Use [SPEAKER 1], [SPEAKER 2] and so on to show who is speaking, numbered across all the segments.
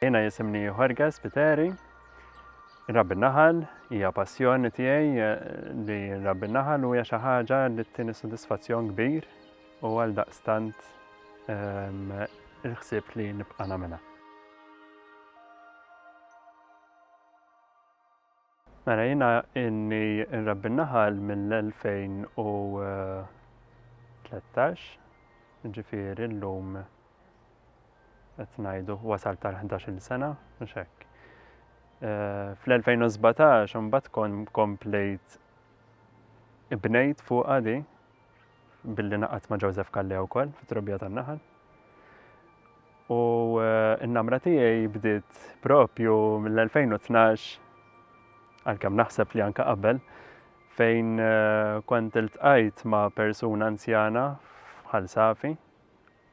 [SPEAKER 1] Jiena jisimni Jorge Spiteri, Rabbi Naħal hija passjoni tiegħi eh, li Rabbi Naħal u hija xi ħaġa li ttini sodisfazzjon kbir u għal daqstant ehm, il-ħsieb li nibqa' nagħmilha. Mela jiena inni nrabbi n-naħal mill-2013, ġifieri llum qed ngħidu wasalt għal ħdax-il sena, mhux hekk. Eh, fl-2017 imbagħad komplejt ibnejt fuqha di billi naqat ma' Joseph Kallea wkoll fit-trobbija tan-naħal. U eh, n-namra tiegħi bdiet propju mill-2012 għalkemm naħseb li anka qabel fejn eh, kont iltqajt ma' persuna anzjana bħal safi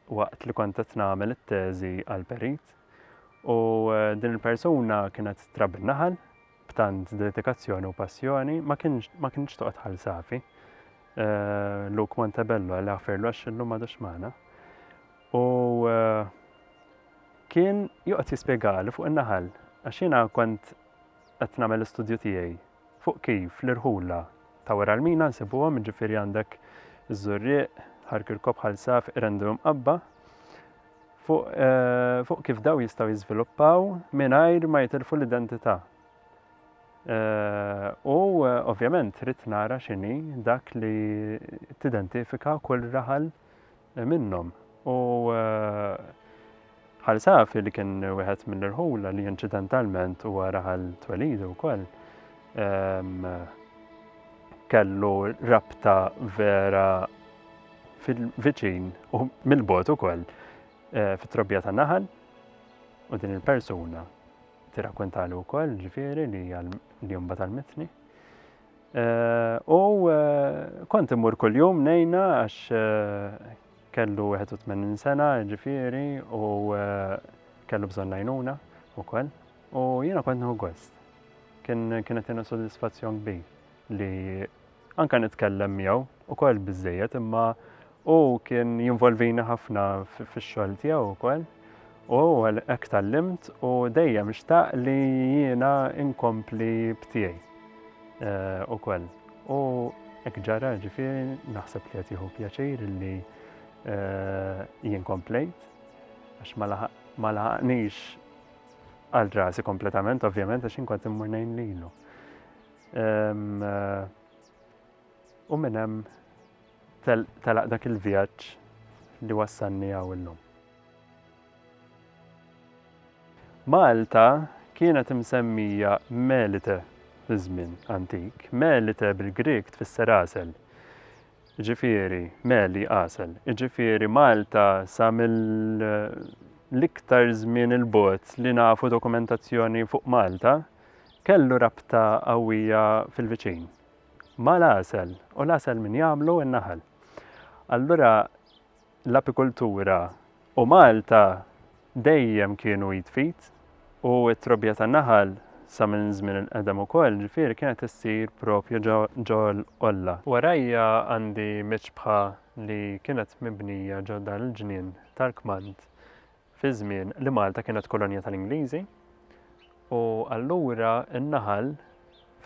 [SPEAKER 1] waqt li kont qed nagħmel it-teżi għal perit u eh, din il-persuna kienet trabbi naħal b'tant dedikazzjoni u passjoni ma kienx toqgħod ħal safi. Eh, Luke Montebello għal għafirlu għax illum għadux maħna. U eh, kien joqgħod jispjegali fuq in-naħal għax jiena kont qed nagħmel l-istudju tiegħi fuq kif l-irħula ta' wara l-mina nsibuhom, jiġifieri għandek iż-Żurrieq, Ħar Kirkop, Ħal Saf, Qrendu u Mqabba, fuq fuq kif dawn jistgħu jiżviluppaw mingħajr ma jitilfu l-identità. U ovvjament rrid nara x'inhi dak li tidentifika kull raħal minnhom u Ħal Safi li kien wieħed mill-irħula li inċidentalment huwa raħal twelidu wkoll kellu rabta vera fil-viċin u mill-bot ukoll eh, fit-trobbija ta' naħal u din il-persuna tirrakkontalu wkoll ġifieri li li jumba tal-mitni. U kont immur kuljum nejna għax kellu 81 sena ġifieri u kellu bżonn najnuna wkoll. U jiena kont nħu gost. Kien kienet jiena sodisfazzjon kbir li anka nitkellem miegħu ukoll biżejjed imma Hu kien jinvolvini ħafna fix-xogħol tiegħu wkoll u hekk tgħallimt u dejjem xtaq li jiena inkompli b'tiegħi eh, ukoll. U hekk ġara ġifieri naħseb li qed jieħu pjaċir li eh, jien komplejt għax ma laħaqnix għal rasi kompletament, ovvjament, għax inkont immur nejn lilu. Eh, u minnem Telaq dak il-vjaġġ li wassalni hawn illum. Malta kienet imsemmija Melite fi żmien antik. Melite bil-Grieg tfisser għasel. Jiġifieri meli għasel. Jiġifieri Malta sa mill-iktar żmien il-bogħod li nafu dokumentazzjoni fuq Malta kellu rabta qawwija fil-viċin. ma' l-għasel u l-għasel min jagħmlu? In-naħal. Allura l-apikultura u Malta dejjem kienu id f'id u t-trobbija tan-naħal sa minn żmien il-qedem ukoll, ġifieri kienet issir propju ġo l-qolla. Warajja għandi miċbħa li kienet mibnija ġo dan il-ġnien tal-kmand fi żmien li Malta kienet kolonja tal-Ingliżi u allura n-naħal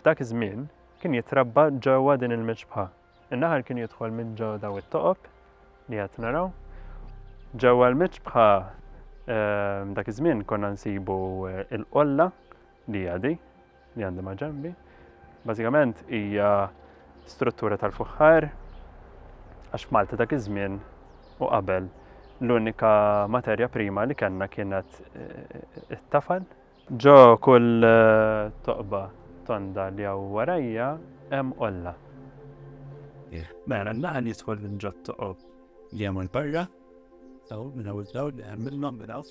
[SPEAKER 1] f'dak iż-żmien kien jitrabba ġewwa din il-miċbħa. In-naħal kien jidħol minn ġewwa daw it-toqob li qed naraw. Ġewwa l-miċbħa ehm, dak iż-żmien konna nsibu eh, il-qolla Li hija di li għandi ma' ġenbi. Bażikament hija struttura tal-fuħħar għax f'Malta dak iż-żmien u qabel l-unika materja prima li kellna kienet eh, it-tafal. Ġo kull eh, toqba tonda li hawn warajja hemm olla.
[SPEAKER 2] Mela, naħan jidħol minn ġod toqob li hemm barra, taw minn hawn dawn li hemm minnhom minn hawn.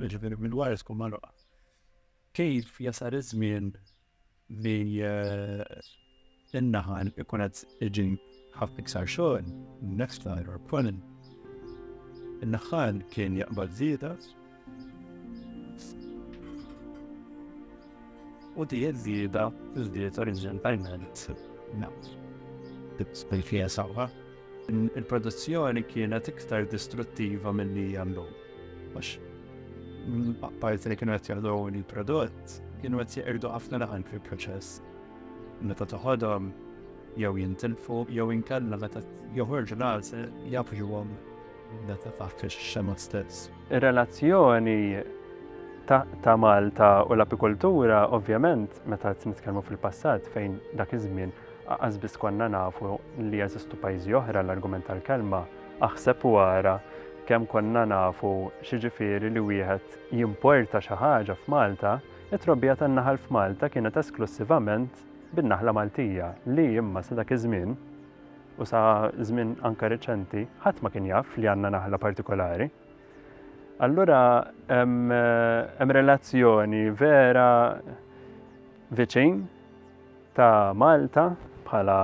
[SPEAKER 2] jiġifieri minn wara tkun magħluqa. Kif jasar iż-żmien li eh, in-naħal ikun qed iġi ħafna iktar xogħol, nefta or pollen. In-naħal kien jaqbad żieda u di żieda żdied oriġinalment nafs. Tibqa' fija sawha. Il-produzzjoni kienet iktar distruttiva milli hija llum. Għax apparti li kienu qed jagħdu il-prodott, kienu qed jeqirdu ħafna laħan fil-proċess. Meta toħodhom jew jintilfu jew inkella meta joħorġu l-għalse jafġuhom meta taħt ix-xema stess. Ir-relazzjoni
[SPEAKER 1] ta' Malta u l-apikultura, ovvjament, meta nitkellmu fil-passat fejn dak iż-żmien Aqas biss konna nafu li jeżistu pajjiżi oħra l-argument tal-kelma aħseb u ara kemm konna nafu x'jiġifieri li wieħed jimporta xi ħaġa f'Malta, it-trobbija tan-naħal f'Malta kienet esklussivament bin-naħla Maltija li imma sa dak iż-żmien, u sa żmien anke reċenti, ħadd ma kien jaf li għandna naħla partikolari. Allura hemm relazzjoni vera viċin ta' Malta bħala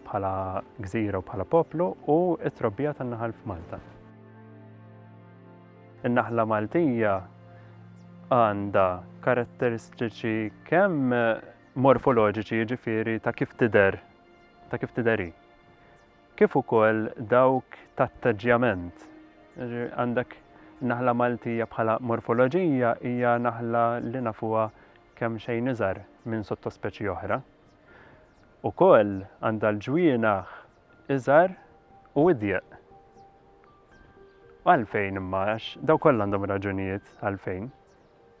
[SPEAKER 1] bħala gżira u bħala poplu u t-trobbija tan-naħal f'Malta. In-naħla Maltija għandha karatteristiċi kemm morfoloġiċi jiġifieri ta' kif tidher ta' kif tidheri. Kif ukoll dawk tat-taġġjament. Għandek naħla Maltija bħala morfoloġija hija naħla li nafuha kemxejn iżgħar minn sottospeċi oħra. Ukoll għandha l-ġwienaħ iżgħar u idjeq. Għalfejn imma għax daw kollha għandhom raġunijiet għalfejn.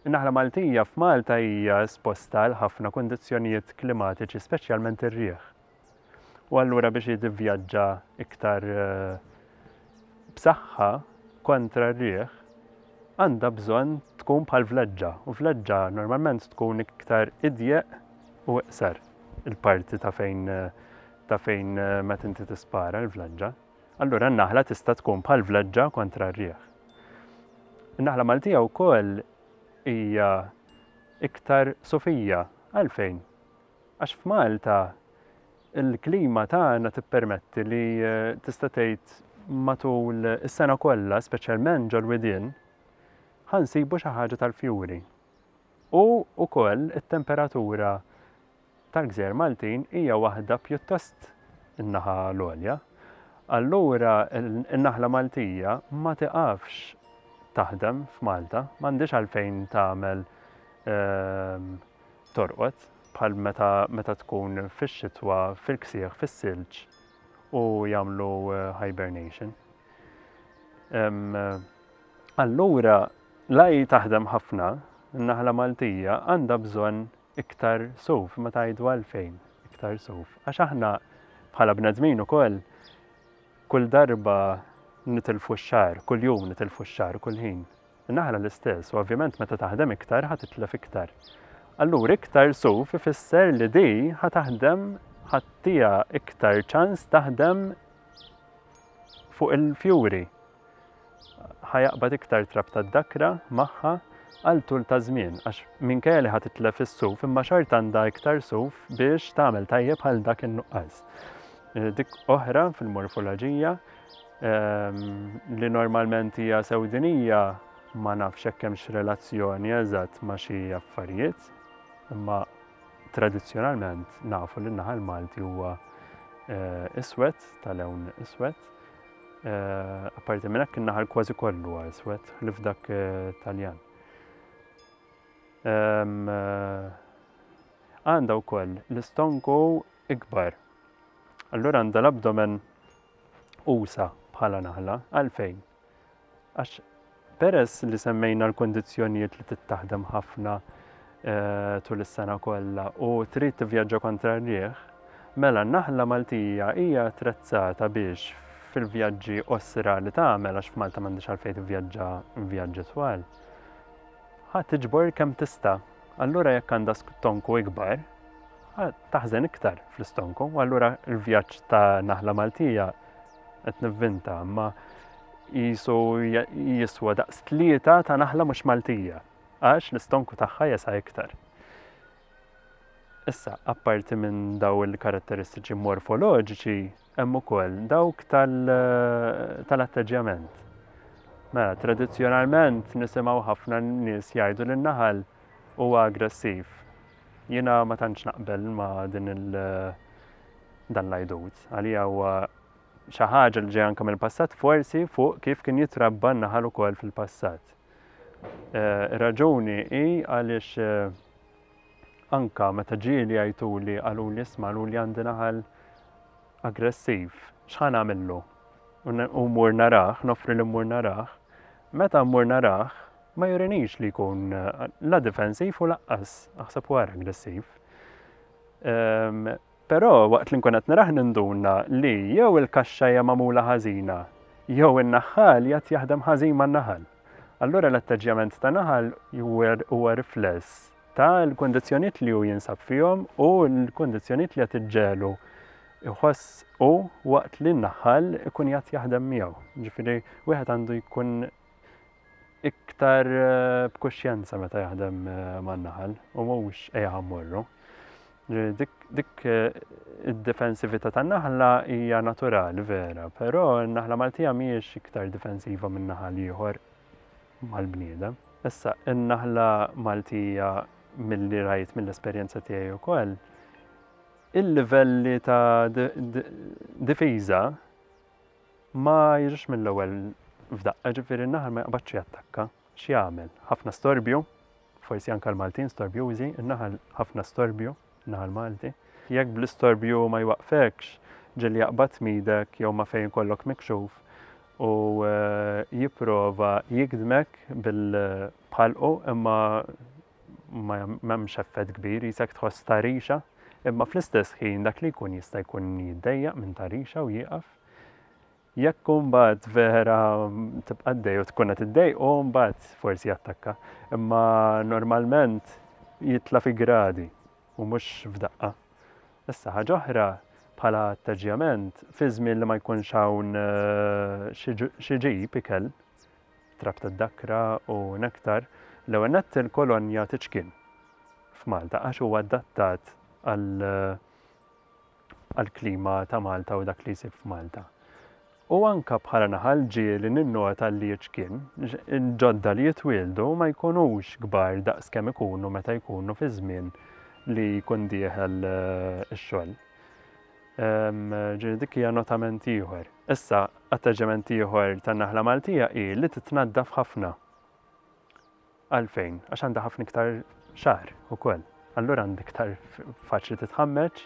[SPEAKER 1] In-naħla Maltija f'Malta hija esposta għal ħafna kundizzjonijiet klimatiċi speċjalment ir-riħ. U allura biex jitivvjaġġa iktar b'saħħa kontra r-riħ, għandha bżonn tkun bħal vleġġa u vleġġa normalment tkun iktar idjeq u iqsar il-parti ta' fejn ta' fejn eh, ma tinti tispara l-vleġġa. Allura n-naħla tista' tkun bħal vleġġa kontra r-rieħ. In-naħla Maltija wkoll hija iktar sofija għalfejn Għax f'Malta il-klima tagħna tippermetti li tista' tgħid matul is-sena kollha, speċjalment ġol-widien, ħa nsibu xi ħaġa tal-fjuri. U wkoll it-temperatura tal-gżejjer Maltin hija waħda pjuttost in-naħa l-għolja. Allura n-naħla Maltija ma tiqafx taħdem f'Malta, m'għandhiex għalfejn tagħmel ehm, torqod bħal meta meta tkun fix-xitwa fil-ksieħ fis-silġ u jagħmlu hibernation. Allura l-AI taħdem ħafna, in-naħla Maltija għandha bżonn iktar suf, ma tajdu għalfejn iktar suf. Għax aħna bħala bnedmin ukoll kull darba nitilfu x-xar, kull jum nitilfu x-xar, kull ħin. Naħra l-istess u ovvjament meta taħdem iktar ħa titlef iktar. Allura iktar suf ifisser li di ħa taħdem ħattija iktar ċans taħdem fuq il-fjuri. Ħa jaqbad iktar trab tad-dakra magħha għal tul ta' żmien għax minkejja li ħa titlef is-suf imma xart għandha iktar suf biex tagħmel tajjeb għal dak in-nuqqas. Eh, dik oħra fil-morfoloġija ehm, li normalment hija sewdinija ma nafx hekk hemmx relazzjoni eżatt ma' xi affarijiet, imma tradizzjonalment nafu li naħal Malti huwa eh, iswed tal-ewn iswed. Eh, apparti minn hekk in-naħal kważi kollu huwa iswed li f'dak eh, Taljan. Ehm, għandha wkoll l-istonku ikbar. Allura għandha l-abdomen usa' bħala naħla. Għalfejn? Għax peress li semmejna l-kundizzjonijiet li trid taħdem ħafna eh, tul is-sena kollha u trid tivvjaġġa kontra r-riħ, mela n-naħla Maltija hija attrezzata biex fil-vjaġġi osra li tagħmel għax f'Malta m'għandix għalfejn tivvjaġġa vjaġġi twal. Ħa tiġbor kemm tista' allura jekk għandha stonku ikbar, taħżen iktar fl-istonku, u allura l-vjaġġ ta' naħla Maltija qed nivvinta, ma jisu jiswa daqs tlieta ta' naħla mhux Maltija, għax l-istonku tagħha jesa' iktar. Issa, apparti minn daw il-karatteristiċi morfoloġiċi, Hemm ukoll dawk tal-atteġġjament. Mela, tradizzjonalment nisimgħu ħafna nies jgħidu li n-naħal huwa aggressiv. Jiena ma tantx naqbel ma' din il dan l-għajdut. Għalija huwa xi ħaġa li ġej anke mill-passat forsi fuq kif kien jitrabba n-naħal ukoll fil-passat. Eh, ir-raġuni hi għaliex eh, anke meta ġieli jgħiduli qaluli isma' luli għandi naħal aggressiv, x'ħa nagħmillu? U mmur narah, noffri li mmur narah, meta mmur narah ma jurinix li jkun la difensiv u laqqas, aħseb u aggressiv. Ehm, Però waqt li nkun qed nirah ninduna li jew il-kaxxa hija magħmula ħażina jew in-naħħal jgħad jaħdem ħażin man-naħal. Allura l-atteġġjament ta' naħal huwa rifless ta' l-kundizzjonijiet li hu jinsab fihom u l-kundizzjonijiet li qed iġġegħlu jħoss hu waqt li n-naħħal ikun jgħad jaħdem miegħu. Ġifieri wieħed għandu jkun iktar b'kuxjenza meta jaħdem man-naħal u mhux ejja mmorru. Dik id-difensività tan-naħla hija naturali vera, però n-naħla Maltija mhijiex iktar difensiva minn naħal ieħor mal-bniedem. Issa, in-naħla Maltija mill-li rajt mill-esperjenza tiegħi wkoll, il-livelli ta' difiża Ma jiġix mill-ewwel f'daqqa, ġifieri n-naħal ma jaqbadx jattakka. X'jagħmel? Ħafna storbju, forsi anke l-Maltin storbjużi, in-naħal ħafna storbju, naħal Malti. Jekk bl-istorbju ma jwaqqfekx, ġieli jaqbad tmidek jew ma' fejn ikollok mikxuf u eh, jipprova jigdmek bil-bħalqu imma ma m'hemmx effett kbir jisek tħoss ta' rixa, imma fl-istess ħin dak li jkun jista' jkun jiddejjaq minn ta' rixa u jieqaf. Jekk mbagħad vera tibqa' dej u tkun qed iddej u mbagħad forsi jattakka, imma normalment jitla' fi gradi u mhux f'daqqa. Issa ħaġa oħra bħala atteġġjament fi żmien li ma jkunx hawn eh, xi ġib ikel trab tad-dakra u nektar, l-ewwel nett il-kolon jagħti ċkien f'Malta għax huwa adattat għall-klima ta' Malta u dak li jsir f'Malta. U anka bħala naħal ġieli ninnota li ċkien, ġodda li jitwieldu ma jkunux kbar daqs kemm ikunu meta jkunu fi żmien li jkun dieħel eh, ix-xogħol. Ġieli dik hija notament ieħor. Issa, atteġġjament ieħor tan-naħla Maltija hi li titnaddaf ħafna. Għalfejn? Għax għandha ħafna iktar xahar ukoll. Allura għandha iktar faċli titħammeġ,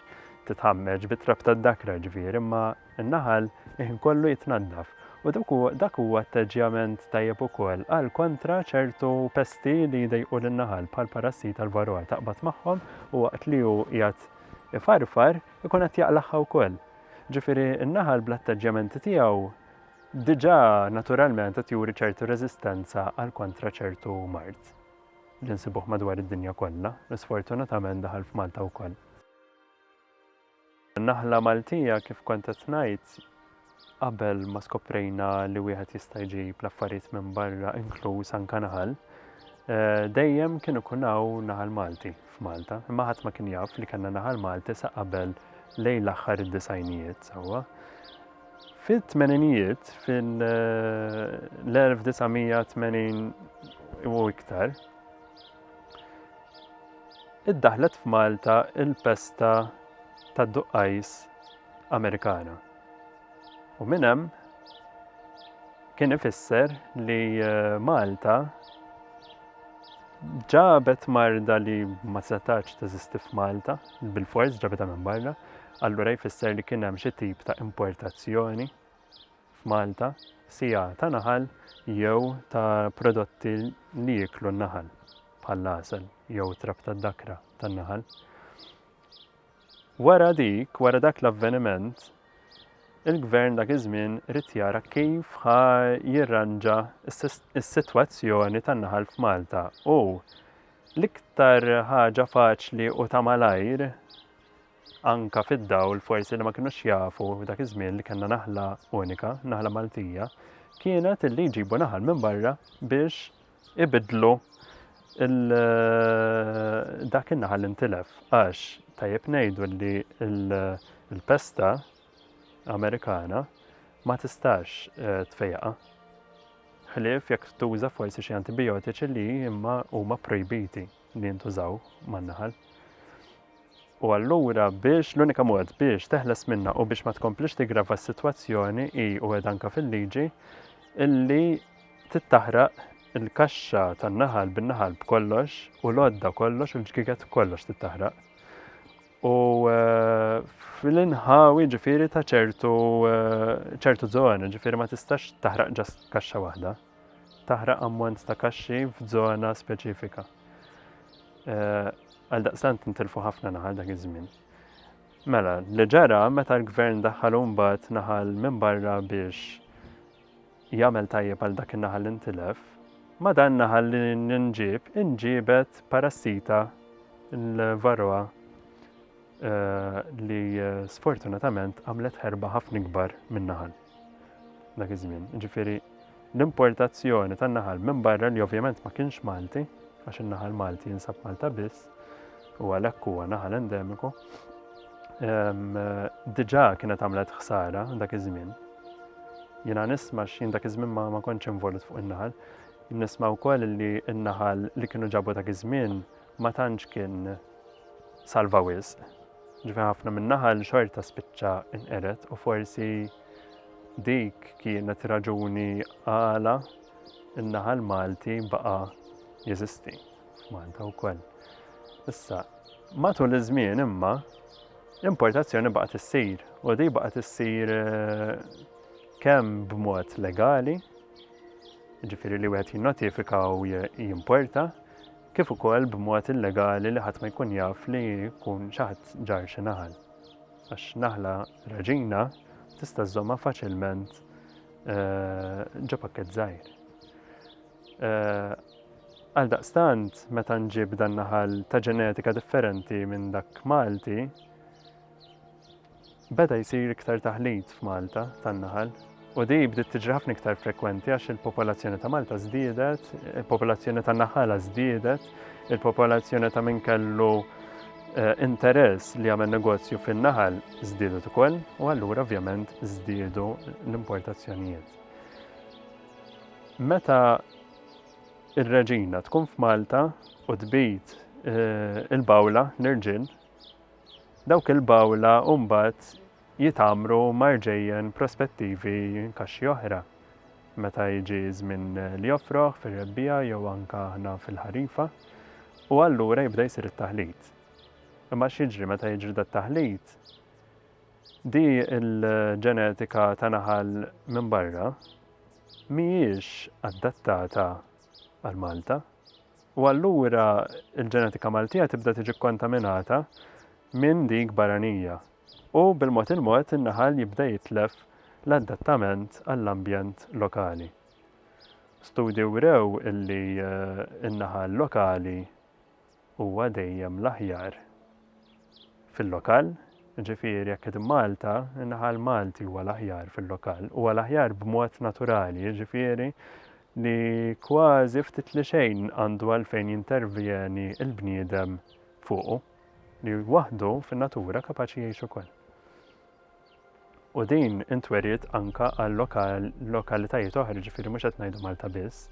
[SPEAKER 1] titħammeġ bit-trab tad-dakra ġifieri, imma n-naħal iħin kollu jitnaddaf. U dak huwa atteġġjament tajjeb ukoll għal kontra ċertu pesti li jdejqu lin-naħal bħal parassita l-varroa taqbad magħhom u waqt li hu qiegħed ifarfar ikun qed jaqlagħha wkoll. Ġifieri n-naħal bl-attaġġjamenti tiegħu diġà naturalment qed juri ċertu reżistenza għal kontra ċertu mard li nsibuh madwar id-dinja kollha, li sfortunatament daħal f'Malta wkoll. Naħla Maltija kif kont qed ngħid Qabel ma skoprejna li wieħed jista' jġib l-affarijiet minn barra inkluż anke naħal, dejjem kien ikun hawn naħal Malti f'Malta, imma ħadd ma kien jaf li kellna naħal Malti sa qabel lejn l-aħħar id-disgħinijiet sewwa. Fit-tmeninijiet, fil-1980 u iktar, iddaħlet f'Malta il-pesta tad-duqqajs Amerikana. U minn hemm kien ifisser li eh, Malta ġabet marda li ma setax teżisti f'Malta, bil-fors ġabetha minn barra, allura jfisser li kien hemm xi tip ta' importazzjoni f'Malta, sija ta' naħal jew ta' prodotti li jiklu n-naħal, bħal lasel jew trab tad-dakra tan-naħal. Wara dik, wara dak l-avveniment, il-Gvern dak iż-żmien ried jara kif ħa jirranġa s-sitwazzjoni tan-naħal f'Malta u l-iktar ħaġa faċli u ta' malajr, anke fid-dawl forsi li ma kinux jafu dak iż-żmien li kellna naħla unika, naħla Maltija, kienet li jġibu naħal minn barra biex ibiddlu dak in-naħal li ntilef għax tajjeb ngħidu li l-pesta Amerikana ma tistax eh, tfejqa. Ħlief jekk tuża forsi xi antibiotiċi li imma huma projbiti. li jintużaw man-naħal. U allura biex l-unika mod biex teħles minna u biex ma tkomplix tigrava s-sitwazzjoni hi u qed anke fil-liġi illi tittaħraq il-kaxxa tan-naħal bin-naħal b'kollox u l-għodda kollox u l-ġgiget kollox tittaħraq. U eh, fil-inħawi ġifiri ta' ċertu eh, ċertu zona, ġifiri ma tistax taħraq ġas kaxxa waħda. taħraq ammont ta' kaxxi f'żona speċifika. Għaldaqstant intilfu ħafna naħal dak iż-żmien. Mela, li ġara meta l-gvern daħħal mbagħad naħal minn barra biex jagħmel tajjeb għal dak in-naħal li ntilef, ma dan naħal li nġib inġibet parassita l-varroa li sfortunatament għamlet ħerba ħafna ikbar minn naħal. Dak iż-żmien, ġifieri l-importazzjoni tan-naħal minn barra li ovvjament ma kienx Malti, għax in-naħal Malti jinsab Malta biss, u għalhekk huwa naħal endemiku. Diġà kienet għamlet ħsara dak iż-żmien. Jiena nisma' x'jien dak iż-żmien ma kontx involut fuq in-naħal. Nisma' wkoll li n-naħal li kienu ġabu dak iż-żmien ma tantx kien salva wisq. Ġifi ħafna min-naħal xorta spiċċa inqered u forsi dik kienet raġuni għala n-naħal Malti baqa' jeżisti f'Malta wkoll. Issa, matul iż-żmien imma l-importazzjoni baqgħet issir u di baqgħet issir eh, kemm b'mod legali, ġifiri li wieħed jinnotifika u jimporta, kif ukoll b'mod illegali li ħadd ma jkun jaf li jkun xi ħadd ġarr xi naħal, għax naħla raġina tista' żżommha faċilment ġo pakkett żgħir. Għaldaqstant, meta nġib dan naħal ta' ġenetika differenti minn dak Malti, Beda jsir iktar taħlit f'Malta tan-naħal u din bdiet tiġri ħafna iktar frekwenti għax il-popolazzjoni ta' Malta żdiedet, il-popolazzjoni tan-naħala żdiedet, il-popolazzjoni ta' min kellu eh, interess li jagħmel negozju fin-naħal żdiedet ukoll u allura ovvjament żdiedu l-importazzjonijiet. Meta ir-reġina tkun f'Malta u tbid eh, il-bawla l-irġiel Dawk il-bawla mbagħad jitgħammru ma' rġejjen prospettivi kaxxi oħra meta jiġi ż-żmien li joffroh fir-rebbiegħa jew anke aħna fil-ħarifa u allura jibda jsir it-taħlit. Imma x'jiġri meta jiġri dat-taħlit? Di l-ġenetika ta' naħal minn barra mhijiex adattata għal Malta. u allura l-ġenetika Maltija tibda tiġi kkontaminata minn dik barranija u bil-mod il-mod in-naħal jibda jitlef l-adattament għall-ambjent lokali. Studji wrew illi n-naħal lokali huwa dejjem l-aħjar fil-lokal, jiġifieri jekk qed immalta, in-naħa l-Malti huwa l-aħjar fil-lokal, huwa l-aħjar b'mod naturali, jiġifieri li kważi ftit li xejn għandu għalfejn jintervjeni l-bniedem fuqu, li waħdu fin-natura kapaċi jgħix ukoll. U din intweriet anka għal lokal, lokalitajiet oħra, ġifiri mhux qed ngħidu Malta biss.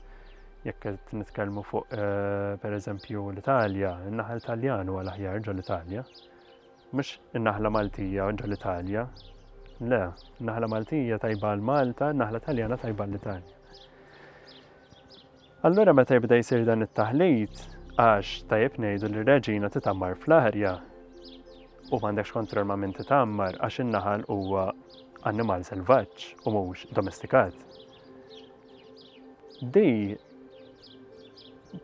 [SPEAKER 1] Jekk qed nitkellmu fuq eh, pereżempju l-Italja, in-naħal Taljan huwa l-aħjar ġol Italja. Mhux in-naħla Maltija ġol Italja. Le, naħla Maltija tajba l Malta, naħla Taljana tajba l-Italja. Allura meta jibda jsir dan it-taħlit, għax tajjeb ngħidu li r-reġina titgħammar fl-arja u m'għandekx kontroll ma' min titgħammar għax in-naħal huwa annimal selvaġġ u mhux domestikat. Di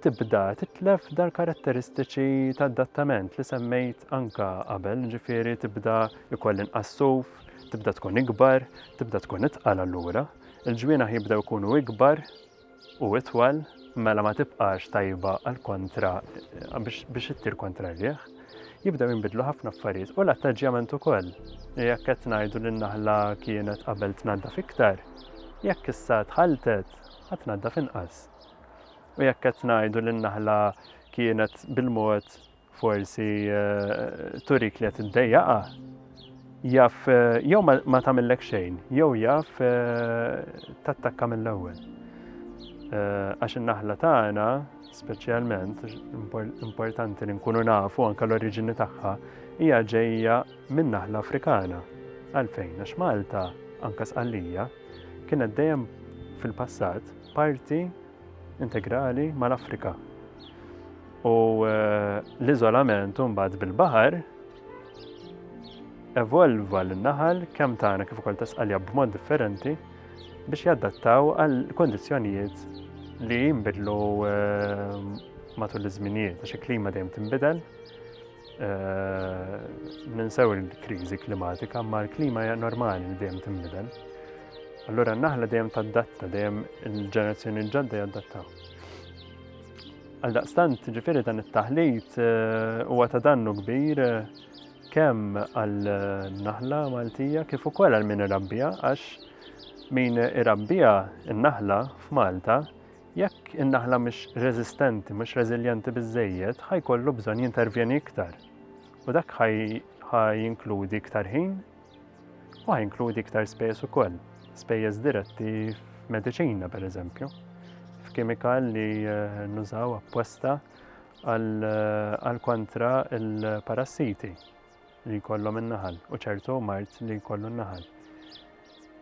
[SPEAKER 1] tibda titlef dal-karatteristiċi ta' adattament li semmejt anka qabel, ġifiri tibda ikoll inqassuf, tibda tkun ikbar, tibda tkun itqal allura, il-ġwiena jibdew ikunu ikbar, u itwal, mela ma tibqax tajba għal kontra biex ittir kontra r-riħ, jibdew jinbidlu ħafna affarijiet u l-attaġġjament ukoll. Jekk qed ngħidu li n-naħla kienet qabel tnaddaf iktar, jekk issa tħaltet ħa tnaddaf inqas. U jekk qed ngħidu li n-naħla kienet bil-mod Forsi turik li qed iddejjaqha. Jaf jew ma tagħmillek xejn, jew jaf tattakka mill-ewwel. Għax in-naħla tagħna, speċjalment, importanti li nkunu nafu anke l-oriġini tagħha, hija ġejja minn naħla Afrikana. Għalfejn, għax Malta, anke Sqallija, kienet dejjem fil-passat parti integrali mal-Afrika. U eh, l-iżolament mbagħad bil-baħar evolva l-naħal kemm tagħna kif ukoll tasqalja b'mod differenti biex jadattaw għal kondizzjonijiet li jinbidlu eh, matul iż-żminijiet għax il-klima dejjem tinbidel Ninsew il-kriżi klimatika, ma l-klima hija normali li dejjem tinbidel. Allura n-naħla dejjem taddatta, dejjem il-ġenerazzjoni ġodda jaddattaw. Għal daqstant, ġifiri dan it-taħlit eh, huwa ta' dannu kbir eh, kemm għal naħla Maltija kif ukoll għal min irabbija għax min irabbija n-naħla f'Malta Jekk in-naħla mhix reżistenti, mhux reżiljenti biżżejjed, ħa jkollu bżonn jintervjeni iktar. U dak ħa jinkludi iktar ħin u ħa jinkludi iktar spejjeż ukoll, spejjeż diretti f'mediċina pereżempju, f'kemikal li eh, nużaw apposta għal eh, kontra il-parassiti. li jkollhom in-naħal u ċertu mard li jkollu n-naħal.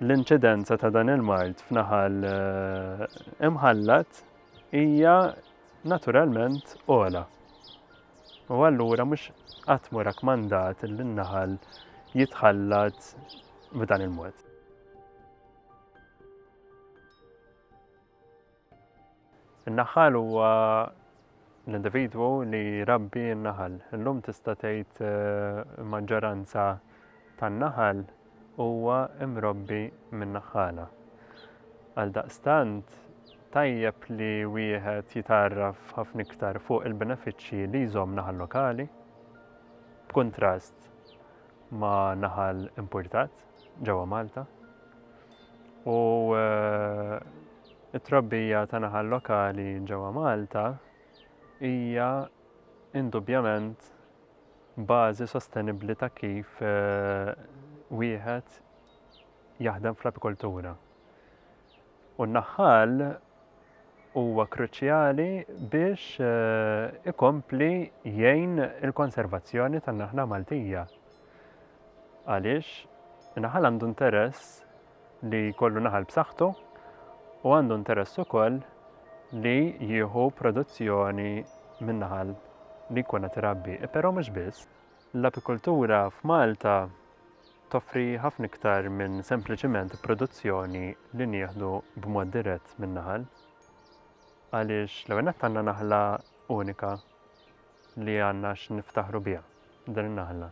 [SPEAKER 1] L-inċidenza ta' dan il-mard f'naħal eh, imħallat hija naturalment ogħla. U allura mhux qatt mu rakmandat li n-naħal jitħallat b'dan il-mod. In-naħħal huwa l-individwu li jrabbi n-naħal. Illum tista' tgħid il-maġġoranza tan-naħal huwa mrobbi minn naħħala. Għaldaqstant, tajjeb li wieħed jitgħarraf ħafna iktar fuq il-benefiċċji li jżomm naħal lokali, b'kuntrast ma' naħal impurtat. ġewwa Malta u t-trabbija ta' naħal lokali ġewwa Malta hija indubjament bażi sostenibbli ta' kif wieħed jaħdem fl-apikoltura. u n-naħħal huwa kruċjali biex ikompli jgħin il-konservazzjoni tan-naħla Maltija. Għaliex in-naħal għandu interess li jkollu naħal b'saħħtu u għandu interess ukoll li jieħu produzzjoni minn naħal li jkun qed irabbi. Però mhux biss, l-apikultura f'Malta toffri ħafna iktar minn sempliċiment produzzjoni li nieħdu b'mod dirett min-naħal. Għaliex l-ewwel nett għandna naħla unika li għandna x'niftaħru biha din in-naħla.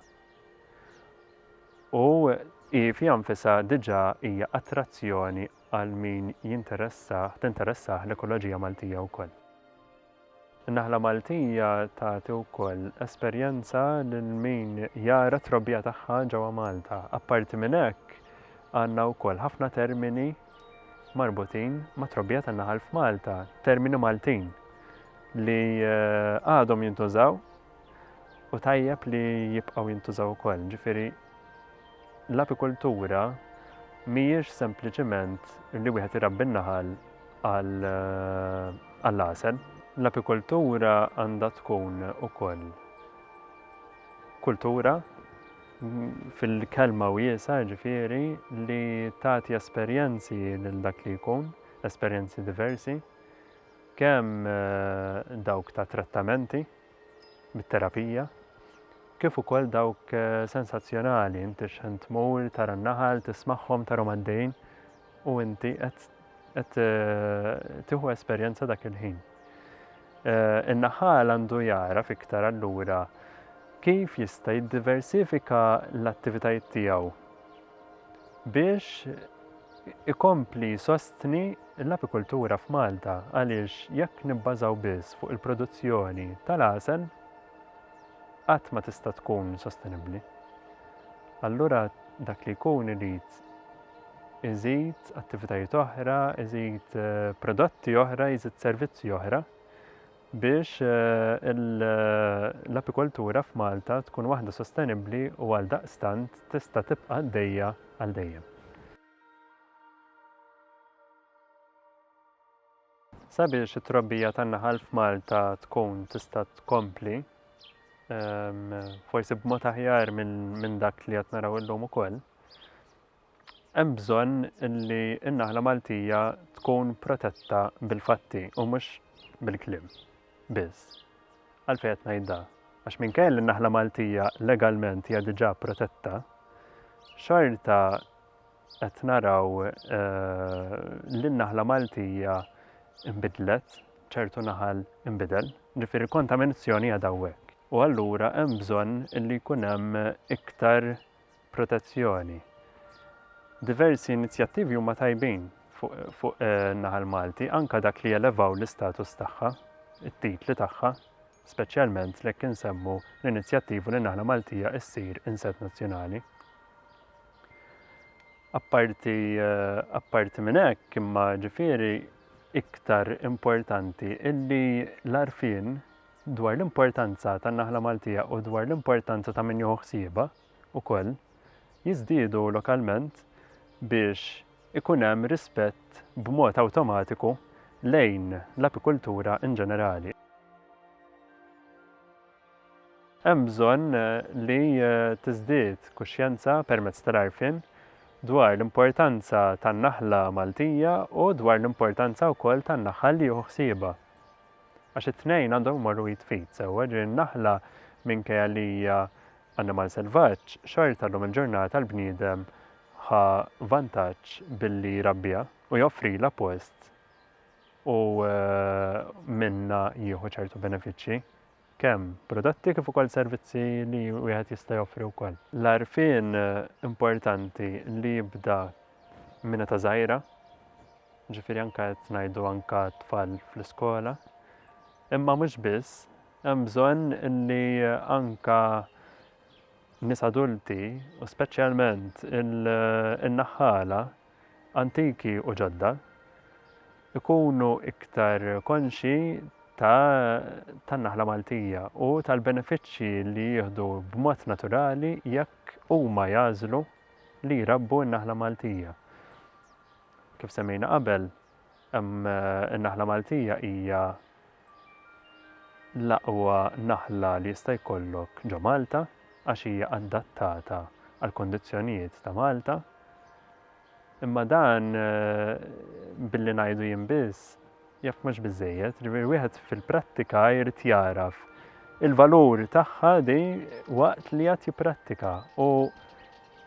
[SPEAKER 1] U hi fiha nfisha diġà hija attrazzjoni għal min jinteressah, tinteressah l-ekoloġija Maltija wkoll. In-naħla Maltija tagħti wkoll esperjenza lil min jara t-trobbija tagħha ġewwa Malta. Apparti minn hekk, għandna wkoll ħafna termini marbutin mat-trobbija tan-naħal f'Malta, termini Maltin li għadhom jintużaw u tajjeb li jibqgħu jintużaw ukoll. Ġifieri l-apikultura mhijiex sempliċiment li wieħed irabbi n-naħal għall-għasel. Eh, l-apikultura għandha tkun ukoll kultura fil-kelma wiesa ġifieri li tagħti esperjenzi lil dak li jkun, esperjenzi diversi. kemm dawk ta' trattamenti bit-terapija kif ukoll dawk sensazzjonali, inti x'ħin tmur tara n-naħal, tismagħhom, tarhom għaddejjin u inti qed qed tieħu esperjenza dak il-ħin. In-naħal għandu jara fiktar allura kif jista' jiddiversifika l-attivitajiet tiegħu biex ikompli jsostni l-apikultura f'Malta għaliex jekk nibbażaw biss fuq il-produzzjoni tal-għasel qatt ma tista' tkun sostenibbli. Allura dak li jkun irid iżid attivitajiet oħra, iżid eh, prodotti oħra, iżid servizzi oħra biex l-apikoltura f'Malta tkun waħda sostenibbli u għaldaqstant tista' tibqa' għaddejja għal dejjem. Sabiex it-trobbija tan-naħal f'Malta tkun tista' tkompli, forsi b'mod aħjar minn dak li qed naraw illum ukoll, hemm bżonn li n-naħla Maltija tkun protetta bil-fatti u mhux bil-kliem biss. Għalfejn qed ngħid da? Għax minkejja li n-naħla Maltija legalment hija diġà protetta, xorta qed naraw eh, li n-naħla Maltija imbidlet, ċertu naħal imbidel, ġifieri kontaminazzjoni għadha hawnhekk. U allura hemm bżonn li jkun hemm iktar protezzjoni. Diversi inizjattivi huma tajbin fuq naħal Malti, anke dak li jelevaw l-istatus tagħha, it-titli tagħha, speċjalment lekk insemmu l-inizjattivu li naħla Maltija issir inset nazzjonali. Apparti apparti minn hekk imma ġifieri iktar importanti illi l-għarfien dwar l-importanza tan-naħla Maltija u dwar l-importanza ta' min jieħu ħsiebha wkoll, jiżdiedu lokalment biex ikun hemm rispett b'mod awtomatiku lejn l-apikultura in ġenerali. Hemm bżonn li tiżdied kuxjenza permezz tal-għarfien dwar l-importanza tan-naħla Maltija u dwar l-importanza wkoll tan-naħal li jieħu ħsiebha. Għax it-tnejn għandhom imorru id f'id sewwa, jiġifieri n-naħla minkejja li hija annimal selvaġġ, xorta llum il-ġurnata l-bniedem ħa vantaġġ billi jrabbiha u joffrilha post u minnha jieħu ċertu benefiċċji. kemm prodotti kif ukoll servizzi li wieħed jista' joffri wkoll. L-għarfien importanti li jibda minn età żgħira, ġifieri anke qed ngħidu anke tfal fl-iskola, imma mhux biss, hemm bżonn li anke nies adulti u speċjalment in-naħħala antiki u ġodda, ikunu iktar konxji ta' tan-naħla Maltija u tal-benefiċċji li jieħdu b'mod naturali jekk huma jagħżlu li jrabbu n-naħla Maltija. Kif semmejna qabel, In-naħla Maltija hija l-aqwa naħla li jista' jkollok ġo Malta għax hija adattata għall-kondizzjonijiet ta' Malta. Imma dan billi ngħidu jien biss jaf mhux biżejjed, ġifieri wieħed fil-prattika jrid jagħraf il-valur tagħha di waqt li qed jipprattika u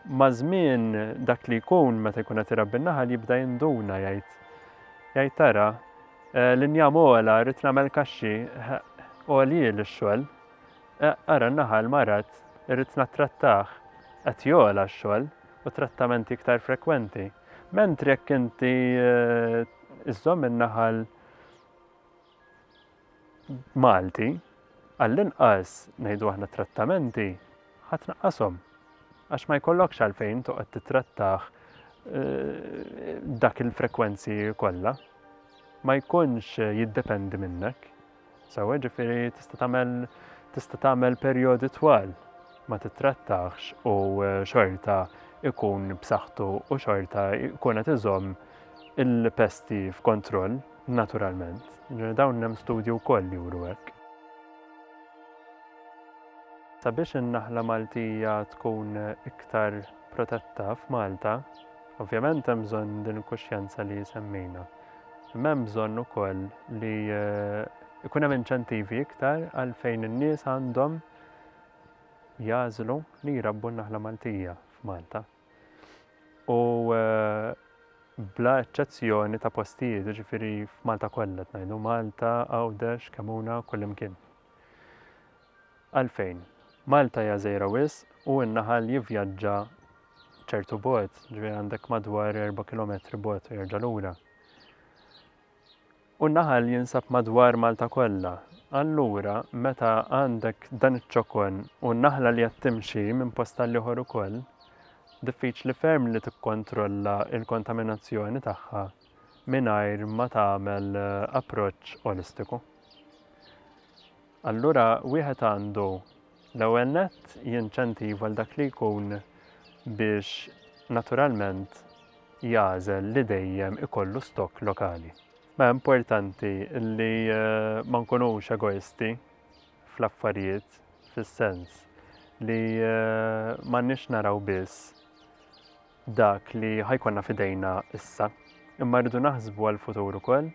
[SPEAKER 1] Maż-żmien dak li jkun meta jkun qed irabbi n-naħal jibda jinduna jgħid jgħid tara eh, l-injam ogħla rrid nagħmel kaxxi eh, għoljien ix-xogħol. Eh, ara n-naħal marad irrid nattrattah qed jogħla x-xogħol u trattamenti iktar frekwenti. Mentri jekk inti iżżomm in-naħal Malti, għall-inqas, ngħidu aħna trattamenti, ħa tnaqqashom. Għax ma jkollokx għalfejn toqgħod titrattah eh, dak il-frekwenzi kollha. Ma jkunx jiddependi minnek. Sawa ġifiri tista' tagħmel tista' tagħmel perjodi twal ma titrattax u e, xorta ikun b'saħħtu u xorta ikun qed iżomm il-pesti f'kontroll. Naturalment, dawn hemm studji wkoll li juru hekk. Sabiex in-naħla Maltija tkun iktar protetta f'Malta, ovvjament hemm bżonn din il-kuxjenza li semmejna. Imma hemm bżonn ukoll li eh, ikun hemm inċentivi iktar għal fejn in-nies għandhom jażlu li jrabbu n-naħla Maltija f'Malta. u bla eċċezzjoni ta' postijiet, ġifiri f'Malta kollha tnajdu Malta, Għawdex, Kemuna, kullimkien. Għalfejn, Malta hija żejra wis u n-naħal jivvjaġġa ċertu bot, ġifiri għandek madwar 4 km bot u jerġa' lura. U n-naħal jinsab madwar Malta kollha. Allura meta għandek dan iċ-ċokon u naħla li qed timxi minn post għal ieħor ukoll, diffiċli ferm li tikkontrolla l-kontaminazzjoni tagħha mingħajr ma tagħmel approċċ olistiku. Allura wieħed għandu L-ewwel nett, jinċentiva lil dak li jkun biex naturalment jagħżel li dejjem ikollu stokk lokali. Ma importanti li ma nkunux egoisti fl-affarijiet fis-sens li m'għandniex naraw biss dak li ħa jkollna f'idejna issa, imma rridu naħsbu għall-futur ukoll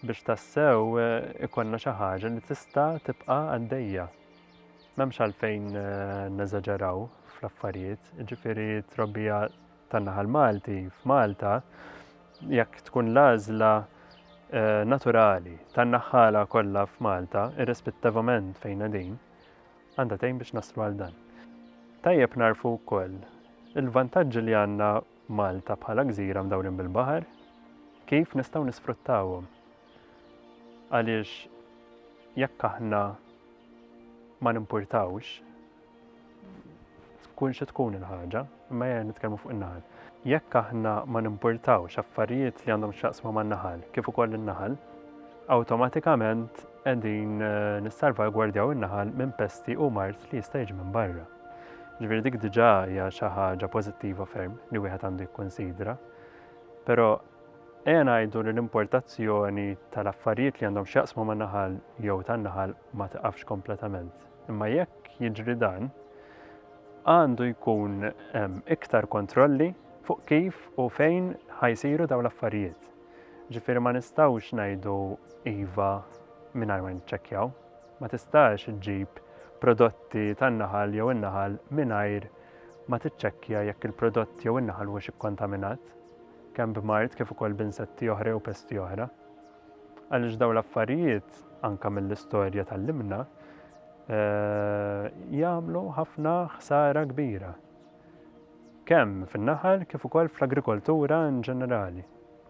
[SPEAKER 1] biex tassew eh, ikollna xi ħaġa li tista' tibqa' għaddejja. M'hemmx għalfejn eh, neżaġeraw fl-affarijiet, ġifieri trobbija tan-naħal Malti f'Malta jekk tkun l-għażla eh, naturali tan-naħħala kollha f'Malta, irrispettivament fejn din, għandha tgħin biex naslu għal dan. Tajjeb nagħrfu wkoll il-vantaġġi li għandna Malta bħala gżira mdawrin bil-baħar, kif nistgħu nisfruttawhom. Għaliex jekk aħna ma nimpurtawx, tkun xi tkun il-ħaġa, Imma ejja nitkellmu fuq in-naħal. Jekk aħna ma nimpurtawx affarijiet li għandhom x'jaqsmu man-naħal kif ukoll in-naħal, awtomatikament qegħdin nissalvagwardjaw in-naħal minn pesti u mard li jista' jiġi minn barra. Ġifieri dik diġà hija xi ħaġa pożittiva ferm li wieħed għandu jikkunsidra. Però ejja ngħidu li l-importazzjoni tal-affarijiet li għandhom x'jaqsmu man-naħal jew tan-naħal ma tiqafx kompletament. Imma jekk jiġri dan, Għandu jkun hemm iktar kontrolli fuq kif u fejn ħa jsiru dawn l-affarijiet. Ġifieri ma nistgħux ngħidu iva mingħajr ma niċċekkjaw. Ma tistax iġġib prodotti tan-naħal jew in-naħal mingħajr ma tiċċekkja jekk il-prodott jew in-naħal huwiex ikkontaminat, kemm b'mard kif ukoll b'insetti oħra jew pesti oħra. Għaliex dawn l-affarijiet, anke mill-istorja tgħallimna, jagħmlu ħafna ħsara kbira. Kemm fin-naħal kif ukoll fl-agrikoltura in ġenerali.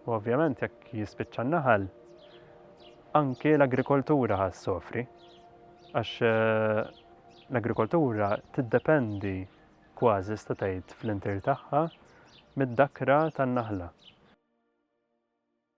[SPEAKER 1] U ovvjament jekk jispiċċa n-naħal, anke l-agrikoltura ħas sofri. Għax eh, l-agrikoltura tiddependi kważi statajt fl-intir tagħha mid-dakra tan-naħla.